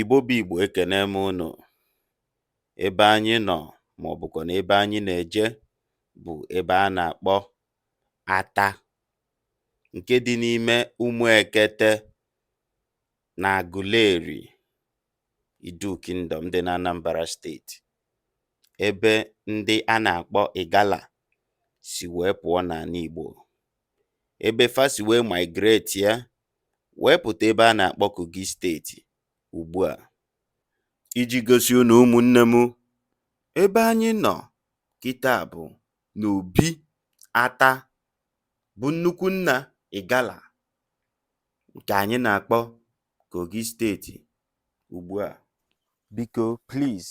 Igbo bụ Igbo ekene m unu ebe anyị nọ ma ọ bụkwa na ebe anyị na-eje bụ ebe a na-akpọ Ata nke dị n'ime Umuekete na Aguleri Idu Kingdom dị n'Anambra steeti ebe ndị a na-akpọ Igala si wee pụọ n'ala Igbo ebe fa si wee migrate ya wee pụta ebe a na-akpọ Kogi steeti ugbu a. Iji gosi unu ụmụnne m, ebe anyị nọ kịta bụ n'Obi Ata bụ nnukwu nna Igala nke anyị na-akpọ Kogi steeti ugbu a. Biko please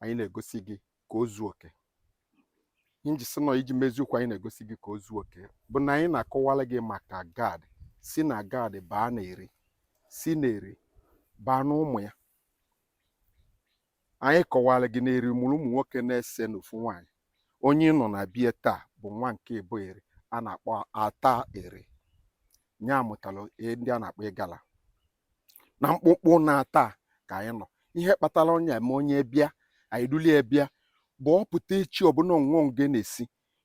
anyị na-egosi gị ka o zuo oke nji si nọ iji mezie okwu anyị na-egosi gị ka o zuo oke bụ na anyị na-akọwara gị maka gad si na gad baa na eri si na eri baa na ụmụ ya anyị kọwara gị na eri mụrụ ụmụ nwoke n'ise na ofu nwaanyị onye ị nọ na be ya taa bụ nwa nke ịbụa eri a na-akpọ ata eri nya mụtara ndị a na-akpọ ịgala na mkpụkpụ nna ata ka anyị nọ ihe kpatara onye eme onye bịa anyị dulie ya bịa bụ ọ pụta echi ọbụla onwe onge na-esi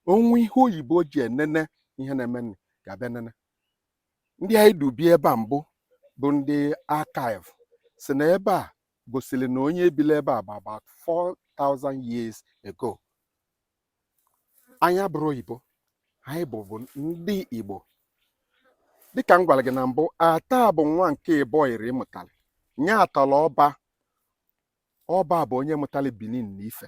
o nwe ihe oyibo ji enene ihe na-eme nri ga-abịa nene ndị anyị dubịa ebe a mbụ bụ ndị archive sị na ebe a gosiri na onye bili ebe a bụ about 4000 years ago anyị abụrọ oyibo anyị bụ bụ ndị igbo dịka m gwara gị na mbụ ata bụ nwa nke ịbụa eri mụtara nya tọrọ ọba ọba bụ onye mụtara benin na ife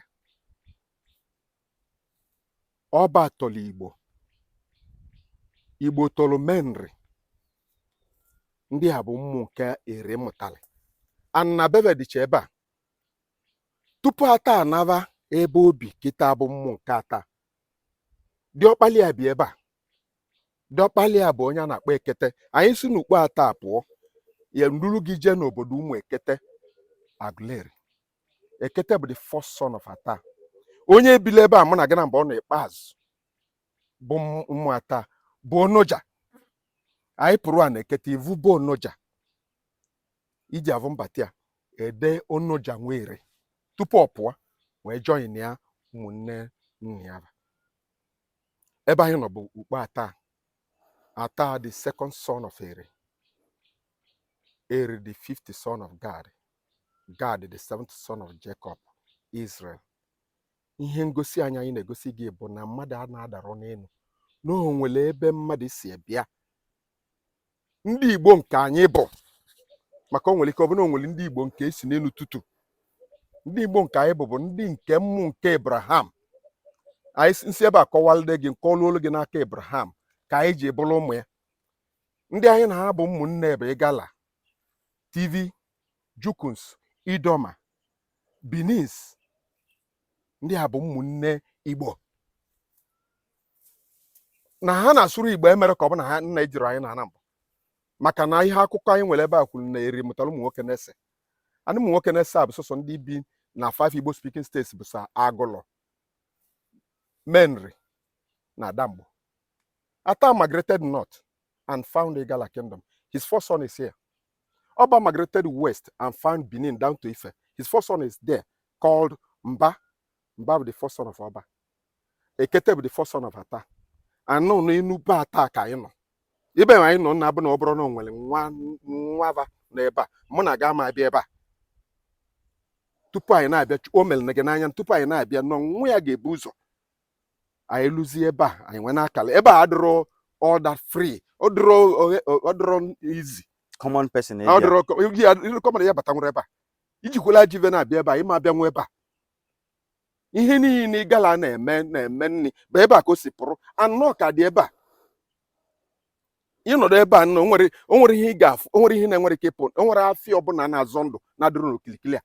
ọba tọrọ igbo igbo tọrọ menri ndị a bụ ụmụ nke eri mụtara anabebe dịcha ebe a tupu ata anaba ebe o bi kịta bụ ụmụ nke ata diọkpala ya bi ebe a diọkpala ya bụ onye a na-akpọ ekete anyị si n'ukpo ata pụọ ya m duru gị jee n'obodo umuekete aguleri ekete bụ the first son of ata onye bili ebe a mụ na gị na mgbe ọ nọ ikpeazụ bụ ụmụ ata bụ onoja anyị pụrụ a na ekete ị vụ obu onoja ị je-avụ mbata ya ede Onoja nwere tupu ọ pụọ wee join ya ụmụnne nna ya ebe anyị nọ bụ ukpo ata ata the second son of Eri Eri the fifth son of Gad Gad the seventh son of Jacob Israel ihe ngosi anyị anyị na-egosi gị bụ na mmadụ a na-adarọ n'elu na o nwere ebe mmadụ si bịa ndị Igbo nke anyị bụ maka o nwere ike ọ bụ na o nwere ndị Igbo nke e si n'enu tụtụ ndị Igbo nke anyị bụ bụ ndị nke ụmụ nke Abraham anyị nsi ebe a kọwalide gị nke luolu gị n'aka Abraham ka anyị ji bụrụ ụmụ ya ndị anyị na ha bụ ụmụnne bụ Igala Tiv Jukuns Idoma Benins ndị a bụ ụmụnne Igbo na ha na-asụrọ Igbo emere ka ọ bụ na ha nna ejiri anyị na ha na mbụ maka na ihe akụkọ anyị nwere ebe a kwuru na Eri mụtara ụmụ nwoke n'ise n'ụmụ nwoke n'ise a bụ sọsọ ndị bi na five Igbo speaking states bụ sọ Agụlụ Menri na Adamgbo Ata migrated north and found Igala kingdom his first son is here Oba migrated west and found Benin down to Ife. His first son is there called Mba. Mba bụ the first son of Oba. Ekete bụ the first son of Ata. Anọ n'enu ukpo Ata ka anyị nọ. Ibe anyị nọ na abụ na ọ bụrụ na o nwere nwa va n'ebe a mụ na agama abịa ebe a tupu anyị na-abịa o mere na gị n'anya tupu anyị na-abịa n'ọ nwa ya ga-ebu ụzọ anyị luzie ebe a anyị nwee n'akala ebe a adịrọ all that free ọ dịrọ easy common person ọ dịrọ commoner ya bata nwere ebe a i jikwala ajọ ive na-abịa ebe a ị ma abịanwu ebe a ihe niile Igala na-eme na-eme nri bụ ebe a ka o si pụrụ anọ ka dị ebe a ị nọdụ ebe a nọ o nwere o nwere ihe ị ga-afụ o nwerọ ihe na-enwerọ ike ipu o nwerọ afịa ọbụna na-azọ ndụ na-adịrọ n'okilikili a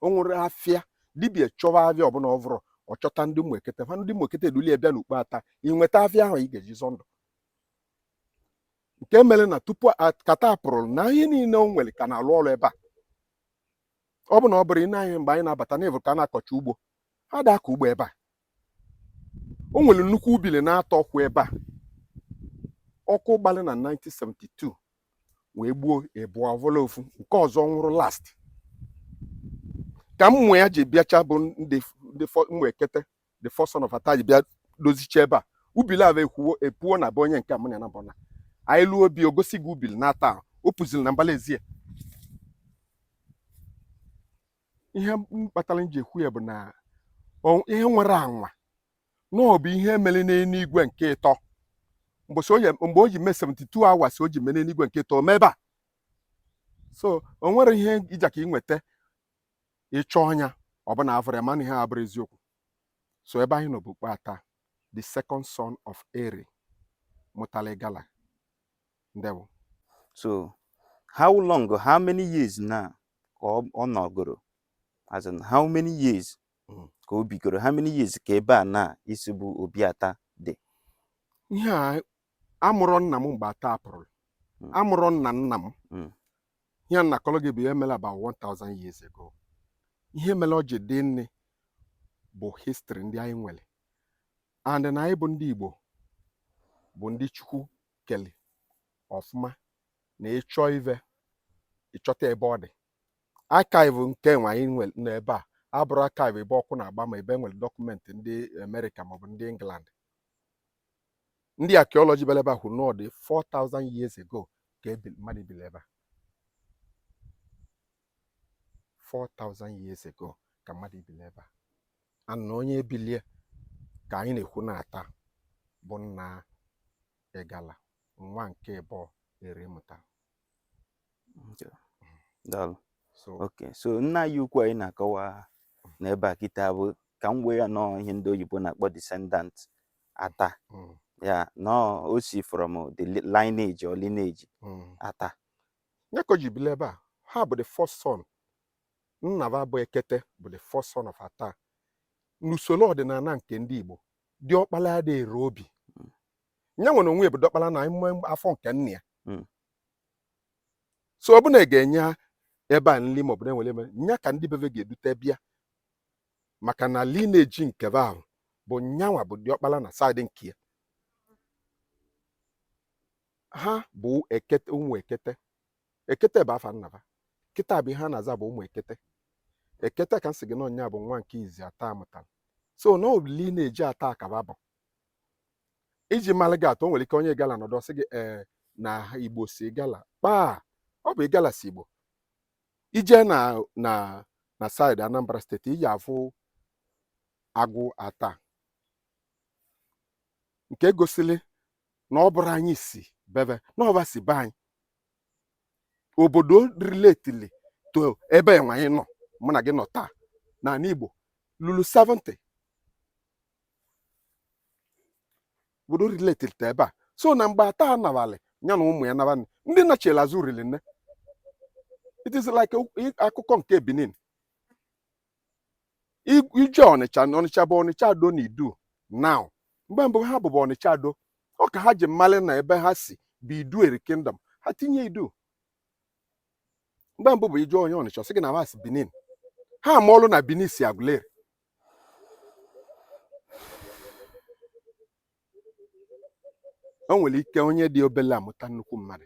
o nwere afịa dibịa chọva afịa ọbụna ọ vụrọ ọ chọta ndị ụmụ Ekete ha ndị ụmụ Ekete eduli ya bịa n'ukpo Ata i nweta afịa ahụ ị ga-eji zọ ndụ nke mere na tupu ka Ata pụrụ na ihe niile o nwere ka na-alụ ọrụ ebe a ọ bụ na ọ bụrụ i nee anya mgbe anyị na-abata na ị vụrụ ka a na-akọcha ugbo ada akọ ugbo ebe a o nwere nnukwu ubili n'atọ kwụ ebe a ọkụ gbalị na 1972 wee gbuo ịbụa ọ vọla ofu nke ọzọ nwụrụ last ka ụmụ ya ji bịacha bụ ndị ụmụ Ekete the first son of Ata ji bịa dozicha ebe a ubili avụ ekwuwo epuo na be onye nke mụ na na bọna anyị luo obi o gosi gị ubili n'atọ o puziri na mbala ezi e ihe m kpatara m ji ekwu ya bụ na ihe nwere anwa na ọ bụ ihe mere n'enuigwe nke ịtọ mbọsị Oye mgbe o ji mee 72 hours o ji mee n'enuigwe nke ịtọ mee ebe a so o nwere ihe ija ka ị nweta ịchọ ọnya ọbụna avụrọ ya mana ihe a bụrụ eziokwu so ebe anyị nọ bụ ukpo Ata the second son of Eri mụtara Igala ndewo so how long how many years now ka ọ ọ nọgoro as in how many years Mm. ka o bigoro how many years ka ebe a na ị sị bụ obi ata dị ihe a amụrọ nna m mgbe ata pụrụ Mm. amụrọ nna nna m Mm. ihe a na-akọrọ gị bụ ihe mere about 1000 years ago ihe mere o ji dị nne bụ history ndị anyị nwere and na anyị bụ ndị Igbo bụ ndị Chukwu keli ọfụma na ị chọọ ive ị chọta ebe ọ dị archive nke nwe anyị nwe n'ebe a abụrọ archive ebe ọkụ na-agba ma ebe e nwere dọkụmentị ndị amerịka maọbụ ndị england ndị archaeology bịara ebe a kwuru na ọ dị 4000 years ago ka mmadụ bili ebe a 4000 years ago ka mmadụ bili ebe a and na onye bili ya ka anyị na-ekwu na ata bụ nna ịgala nwa nke ịbụọ eri mụtalụ ok so nna anyị ukwu anyị na-akọwa n'ebe a kịta bụ ka m wee ya na ọ ihe ndị oyibo na-akpọ descendant ata mm, ya na o si from the li- lineage or lineage mm. ata nya ka o ji bili ebe a ha bụ the first son Nna ba bụ Ekete bụ the first son of Ata. N'usoro ọdịnala nke ndị Igbo, diọkpala adịghị ere obi. Mm. Nyanwa na onwe ya bụ diọkpala na ime afọ nke nna ya. Mm. So ọ bụ na ga-enye ebe a nri maọbụ na-enwere eme nya ka ndị be ve ga-edute bịa maka na lineji nke va ahụ bụ nyanwa bụ diọkpala na saịdị nke ya. Ha bụ ekete ụmụ ekete. ekete bụ afa nna ba kịta bụ ihe a na-aza bụ ụmụ ekete ekete ka m sị gị na ọ nya bụ nwa nke izi ata mụtara so na obili na-eji ata akaba bụ iji mara gị atụ o nwere ike onye ịgala nọdụ ọ sị gị ee eh, na igbo si ịgala kpaa ọ bụ ịgala si igbo i je na na na saịdị anambra steeti ị ja-afụ agwụ ata nke gosili na ọ bụrọ anyị si be be na ọ ba si be anyị obodo riletili to ebe enwe anyị nọ mụ na gị nọ taa n'ani Igbo lulu 70 obodo riletili to ebe a so na mgbe ata nabalị ya na ụmụ ya nabalị ndị nachila azụ rili nne it is like akụkọ nke Benin i je ọnịcha na ọnịcha bụ ọnịcha ado na idu now mgbe mbụ ha bụbu ọnịcha ado ọ ka ha ji malị na ebe ha si bụ idu eri kingdom ha tinye idu mgbe mbụ bụ ị jụọ onye ọnịcha ọ sị gị na ha si benin ha ama ọlụ na benin si aguleri o nwere ike onye dị obele amụta nnukwu mmadụ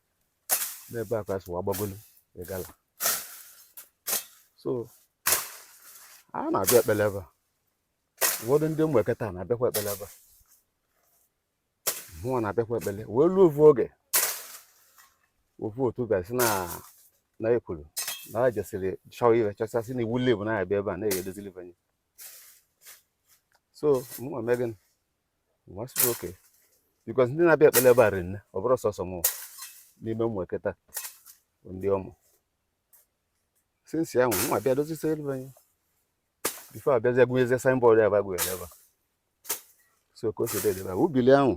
n'ebe a ka fa si wee gbagolu igala so a na-abịa ekpele ebe a ụfọdụ ndị ụmụ ekete a na-abịakwa ekpele ebe a mụnwa na-abịakwa ekpele wee luo ofu oge ofu otu bịa sị na na ekwuru na a jesịrị chọọ iwe chọchasị na iwu lebu na-abịa ebe a na-eyi edozili banye so mụnwa mee gịnị m asị okay because ndị na-abịa ekpele ebe a rinne ọ bụrọ sọsọ m n'ime ụmụ ekete bụ ndị ọmụ since ahụ mụnwa bịa dozisi elu anyị before abịazi agụnyezie signboard ya bagụ ya ebe a so ka o si dị edebe ubili ahụ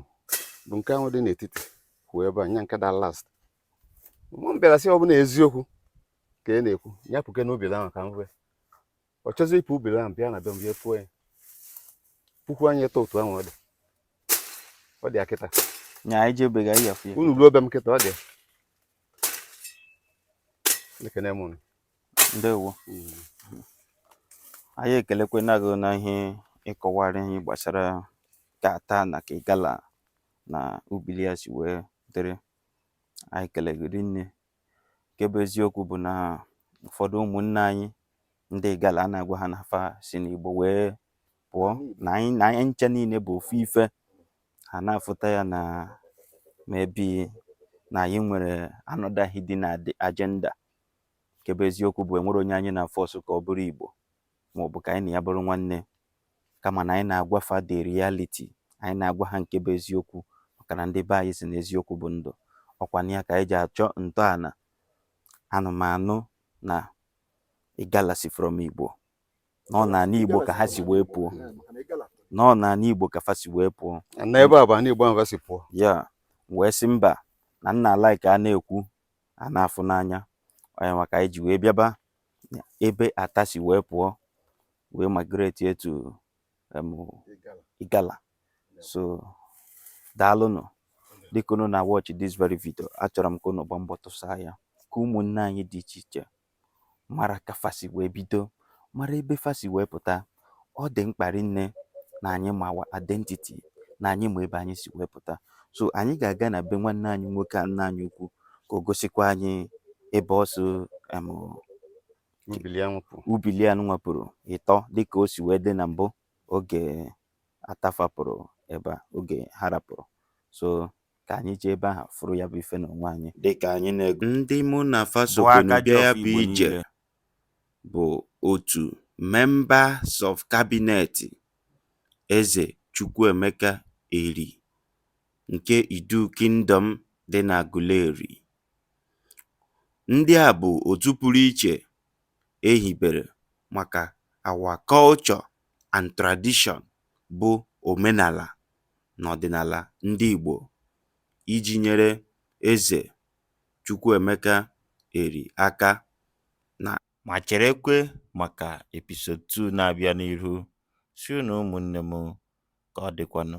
bụ nke ahụ dị n'etiti kwụ ebe a nya nke da last mụ m bịara sị ọ bụlụ eziokwu ka ị na-ekwu nya pukene ubili ahụ ka m hụ ọ chọzi ipu ubili ahụ bịa na be m bịa puo ya puku anyị eto otu ahụ ọ dị ọ dị akịta nya anyị jebe ga ya unu ruo be m kịta ọ dị ekene m ndewo mm. anyị ekelekwena gị na ihe ị kọwara ihe gbasara ka ata na ka igala na ubili ya si wee dịrị anyị kele gị rinne nke bụ eziokwu bụ na ụfọdụ ụmụnne anyị ndị igala a na-agwa ha na fa si n'igbo wee pụọ na anyị ncha niile bụ ofu ife ha na-afụta ya na maybe na anyị nwere another hidden agenda nke bụ eziokwu bụ enwerọ onye anyị na-afọsụ ka ọ bụrụ igbo ma ọ bụ ka anyị na ya bụrụ nwanne kama na anyị na-agwa fa the reality anyị na-agwa ha nke bụ eziokwu maka na ndị be anyị sị na eziokwu bụ ndụ ọkwa nya ka anyị ji achọ ntọana anụ m anụ na igala si from Igbo na ọ na ala Igbo ka ha si wee pụọ na ọ na ala Igbo ka fa si wee pụọ na ebe a bụ ana Igbo ahụ fa si pụọ ya wee sị mba na nna ala ka a na-ekwu a na-afụ n'anya ọ nya ka anyị ji wee bịaba ebe ata si wee pụọ wee migrate to em, igala so daalụnụ dịka unu na watch this very video achọrọ m ka unu gbaa mbọ tụsaa ya ka ụmụnne anyị dị iche iche mara ka fa si wee bido mara ebe fa si wee pụta ọ dị mkpa rinne na anyị ma our identity na anyị ma ebe anyị si wee pụta so anyị ga-aga na be nwanne anyị nwoke a nna anyị ukwu ka o gosikwa anyị ebe ọ so em, ubili anụnwa pụrụ ịtọ dịka o si wee dị na mbụ oge Atta fa pụrụ ebe a oge ha rapụrụ so ka anyị jee ebe ahụ fụrụ ya bụ ife na onwe anyị dịka anyị na-aga ndị mụ na fa sokwenụ bịa ya bụ ije bụ otu Members of Cabinet Eze Chukwuemeka Eri nke Idu Kingdom dị n'Aguleri. Ndị a bụ otu pụrụ iche e hibere maka our culture and tradition bụ omenala na ọdịnala ndị Igbo iji nyere Eze Chukwuemeka Eri aka na. Ma cherekwe maka episode two na-abịa n'ihu. Sịrị unu ụmụnne m, ka ọ dịkwanụ.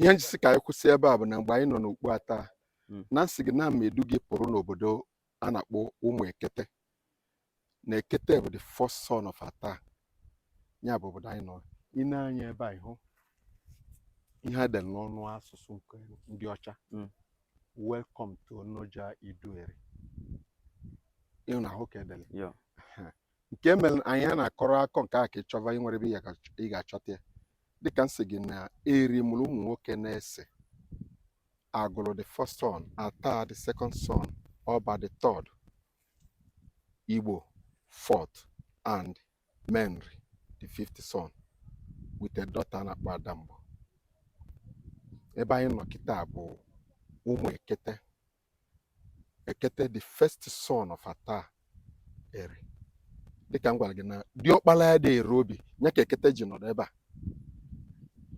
ihe m ji sị ka anyị kwụsị ebe a bụ na mgbe anyị nọ n'Okpu Atta hmm. na m sị gị na m ma-edu gị pụrụ n'obodo a na-akpọ Ụmụekete na ekete bụ the first son of Atta ya bụ obodo anyị nọ i nee anya ebe a ị hụ ihe e dere n'ọnụ asụsụ nke ndị ọcha hmm. welcome to Onoja Idueri ị hụ na ahụ ka e dere nke mere anyị a na-akọrọ akọ nke a ka ị chọba i nwere ebe ị ga-achọta ya dịka m sị gị na Eri mụrụ ụmụ nwoke n'ise Agụlụ the first son Atta the second son ọba the third igbo fourth and menri the fifth son with a daughter na-akpọ Adamgbo ebe anyị nọ kịta bụ Ụmụekete ekete the first son of Atta Eri dịka m gwara gị na diọkpala ya dị ere obi ya ka ekete ji nọdụ ebe a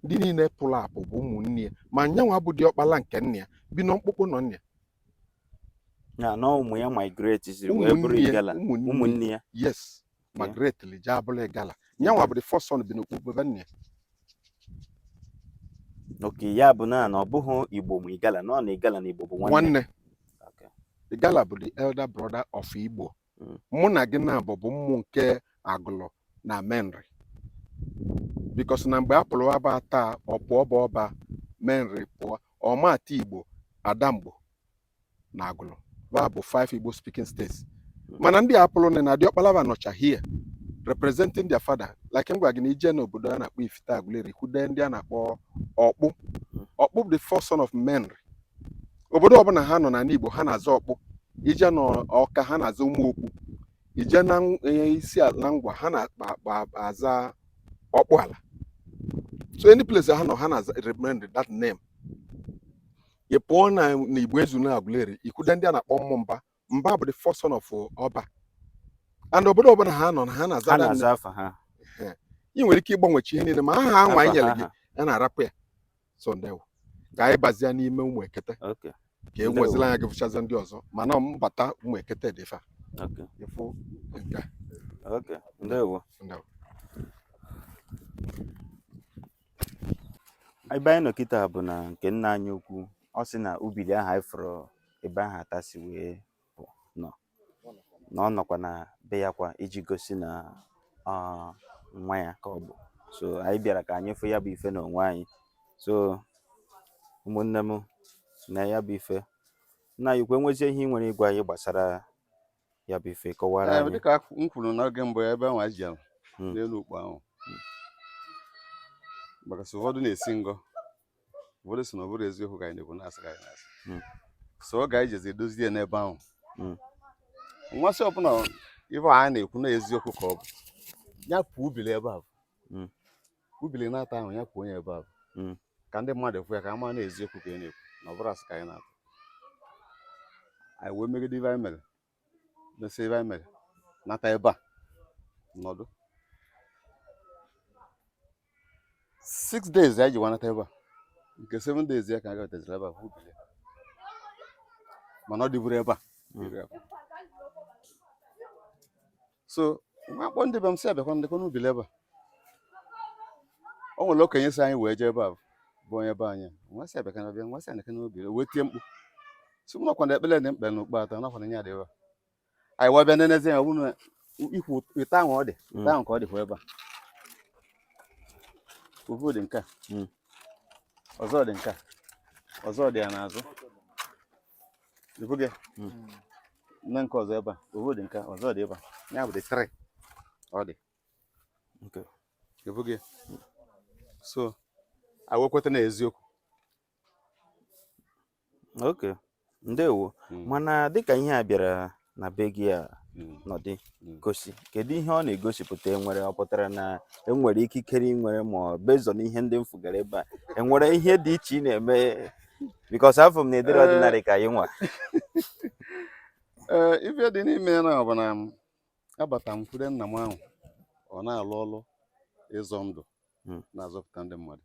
ndị niile pụrụ apụ bụ ụmụnne ya ma nyanwa bụ diọkpala nke nna ya bi na mkpụkpụ ụnọ nna ya ya na ụmụ ya migrate ziri wee bụrụ igala ụmụnne ya yes migrate li jee abụlụ igala nyanwa bụ the first son bi na mkpụkpụ be nna ya okay ya bụ na na ọ bụghị igbo mụ igala na ọ na igala na igbo bụ nwanne nwanne Okay. igala bụ the elder brother of igbo Mm. mụ na gị na-abụ bụ ụmụ nke agụlụ na menri because na mgbe a pụrụ aba Atta ọ pụọ bụ ọba menri pụọ ọmata igbo adamgbo na agụlụ ba bụ five igbo speaking states mana ndị a pụrụ na na diọkpala ba nọcha here representing their father like m gwa gị na i je n'obodo a na-akpọ ifite agụleri kwude ndị a na-akpọ ọkpụ ọkpụ bụ the first son of menri obodo ọbụla ha nọ na igbo ha na-aza ọkpụ i je na ọka ha na-aza ụmụ ọkpụ i je na ng- eh, isi ala ngwa ha na-aza ọkpụ ala so any place ha nọ ha na-remember that name ị pụọ na igboezunu agụleri ikwude ndị a na-akpọ ụmụ mba mba bụ the first son of ọba and obodo ọbụla ha nọ na ha na-aza ị nwere ike ịgbanwecha ihe niile ma aha ha nwa nyere gị ya na-arapụ ya so ndewo ka anyị bazia n'ime ụmụ ekete ka i wezili anya gị fụchazi ndị ọzọ mana mbata ụmụ ekete dị fa ịfụ nke ndewo ebe anyị nọ kịta bụ na nke nna anyị ukwu ọ sị na ubili ahụ anyị fụrụ ebe ahụ ata si wee pụ nọ na ọ nọkwa na be ya kwa iji gosi na ọ nwa ya ka ọ bụ so anyị bịara ka anyị fụ ya bụ ife n'onwe anyị so ụmụnne m nee ya bụ ife nna anyị ukwu e nwezie ihe ị nwere ịgwa anyị gbasara ya bụ ife kọwara anyị dịka m kwuru n'oge mbụ ebe nwa ji ala hmm. n'elu ukpo ahụ hmm. maka sị ụfọdụ na-esi ngọ ụfọdụ sị na ọ bụrọ eziokwu ka anyị na-ekwu na asị ka anyị na-asị hmm. so ọ ga-ejezi edozie n'ebe ahụ mụ asị ọ bụ na ife anyị na-ekwu na eziokwu ka ọ bụ ya puo ubili ebe ahụ ubili na-ata ahụ ya puo nye ebe ahụ hmm. ka ndị mmadụ fụ ya ka a ma na eziokwu ka anyị na-ekwu na ọ bụrọ asị ka anyị na-atụ anyị wee megide ife anyị mere mesịa ife anyị mere nata ebe a nọdụ six days anyị ji wee nata ebe a nke seven days ya ka anyị gataziri ebe a fụ ubili mana ọ dịburọ ebe a hmm. so nwa akpọ ndị be m sị ha bịakwa nekwa n'ubi ebe a o nwere okenye si anyị wee jee ebe a bụ onye be anyị nwa si abịaka na bịa nwa si anaka n'obi wee tie mkpu sị m nekwa na ekpere dị mkpa na ukpo ata nekwa na nye adị ebe a anyị wee bịa nenezi ya ọ bụrụ na ikwu ite ahụ ọ dị ite ahụ ka ọ dịkwa ebe a ofu dị nke a ọzọ dị nke a ọzọ dị ya n'azụ na nke ọzọ ebe a ofu dị nke ọzọ dị ebe a ya bụ the three ọ dị ifu gị so e wee kweta na eziokwu ok ndewo hmm. mana dịka ihe a bịara na be gị a mm. nọdị mm. gosi kedu ihe ọ na-egosipụta enwere ọ pụtara na enwere ikikere i nwere ma ọ bezọ na ihe ndị m fụgara ebe a enwere ihe dị iche ị na-eme because afụ m na e dere eh. ọdịnarị ka anyị nwa eh, ife dị n'ime ya na ọ bụ na abata m kwude nna m ahụ ọ na-alụ ọlụ ịzọ ndụ hmm. na-azọpụta ndị mmadụ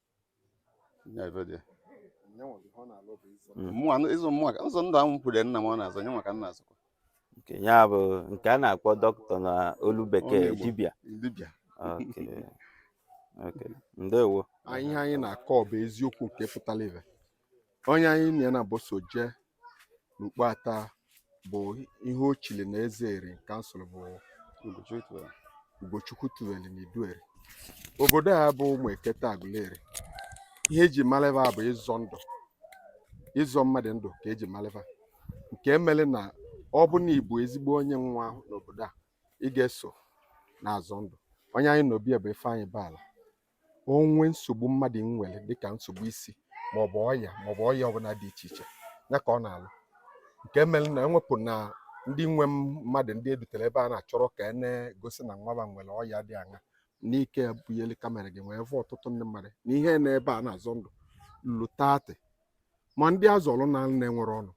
ịzụ mmụọ ka ịzọ ndụ ahụ m kwude nna m ọ na-azọ nya nwa ka m na-azọkwa ya bụ nke a na-akpọ doctor na olu bekee dibịa ndewo ihe anyị na-akọ bụ eziokwu nke pụtara ife onye anyị na ya naabọ so jee n'ukpo ata bụ ihe o chili na eze eri in council bụ ugochukwu tuweli na idueri obodo a bụ ụmụ ekete agụleri ihe eji malụ va bụ ịzọ ndụ ịzọ mmadụ ndụ ka eji malụ va nke emere na ọ bụ na ịbụ ezigbo onye nwa n'obodo a ị ga-eso na-azọ ndụ onye anyị nọ be ya bụ ifeanyị baala o nwee nsogbu mmadụ nwere dịka nsogbu isi maọbụ ọya maọbụ ọya ọbụla dị iche iche ya ka ọ na-alụ nke mere na ewepụ na ndị nwe mmadụ ndị edutere ebe a na achọrọ ka a na-egosi na nwaba nwere ọya dị aṅa n'ike bunyere camera gị wee vụ ọtụtụ ndị mmadụ na ihe nọ ebe a na-azọ ndụ lu thirty ma ndị azọrọ naa na enwerọ ọnụ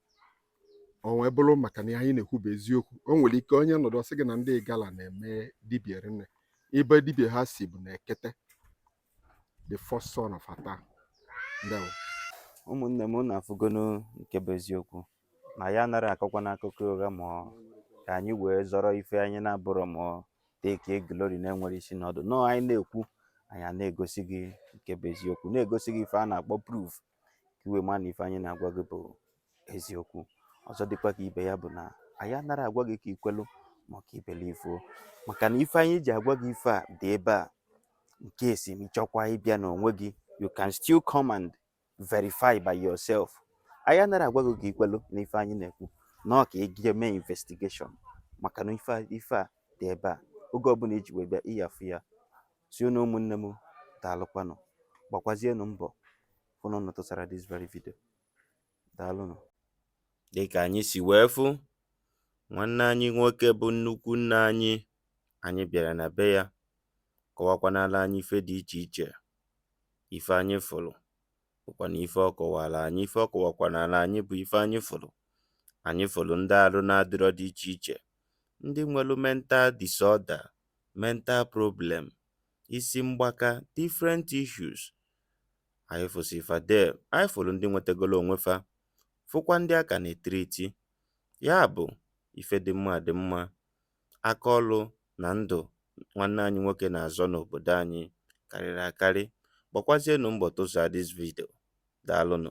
o wee bụrụ maka na anyị na-ekwu bụ eziokwu o nwere ike onye nọdụ ọ sị gị na ndị igala na-eme dibia rinne ebe dibia ha si bụ na ekete the first son of ata ndewo ụmụnne m na afụgonu nke bụ eziokwu na anyị anara akọkwanụ akụkọ ụgha ma ka anyị wee zọrọ ife anyị na-abụrọ ma take glory na-enwerọ isi na ọdụ nọọ anyị na-ekwu anyị na-egosi gị nke bụ eziokwu na-egosi gị ife a na-akpọ proof ka i wee ma na ife anyị na-agwa gị bụ eziokwu ọzọ dịkwa ka ibe ya bụ na anyị anara agwa gị ka i kwelu ma ka i believe-uo maka na ife anyị ji agwa gị ife a dị ebe a nke esi ma ị chọkwa ịbịa n'onwe gị you can still come and verify by yourself anyị anara agwa gị ka i kwelu na ife anyị na-ekwu na ọ ka ị gaa mee investigation maka na ife a dị ebe a oge ọbụla i ji wee bịa ị ya-afụ ya si unu ụmụnne m daalụkwanụ gbakwazienụ mbọ fụ na unu tụsara this very video daalụnụ dịka anyị si wee fụ nwanne anyị nwoke bụ nnukwu nna anyị anyị bịara na be ya kọwakwanala anyị ife dị iche iche ife anyị fụrụ bụkwa na ife ọ kọwara anyị ife ọ kọwakwanala anyị bụ ife anyị fụrụ anyị fụrụ ndị arụ na-adịrọ dị iche iche ndị nwere mental disorder, mental problem, isi mgbaka, different issues, anyị fụsị fa there, anyị fụrụ ndị nwetagolo onwe fa, fụkwa ndị a ka na-etriti. Ya bụ, ife dị mma dị mma, aka ọrụ na ndụ nwanne anyị nwoke na-azọ n'obodo anyị karịrị akarị. Gbakwazienụ mbọ tụsaa this video. Daalụnụ.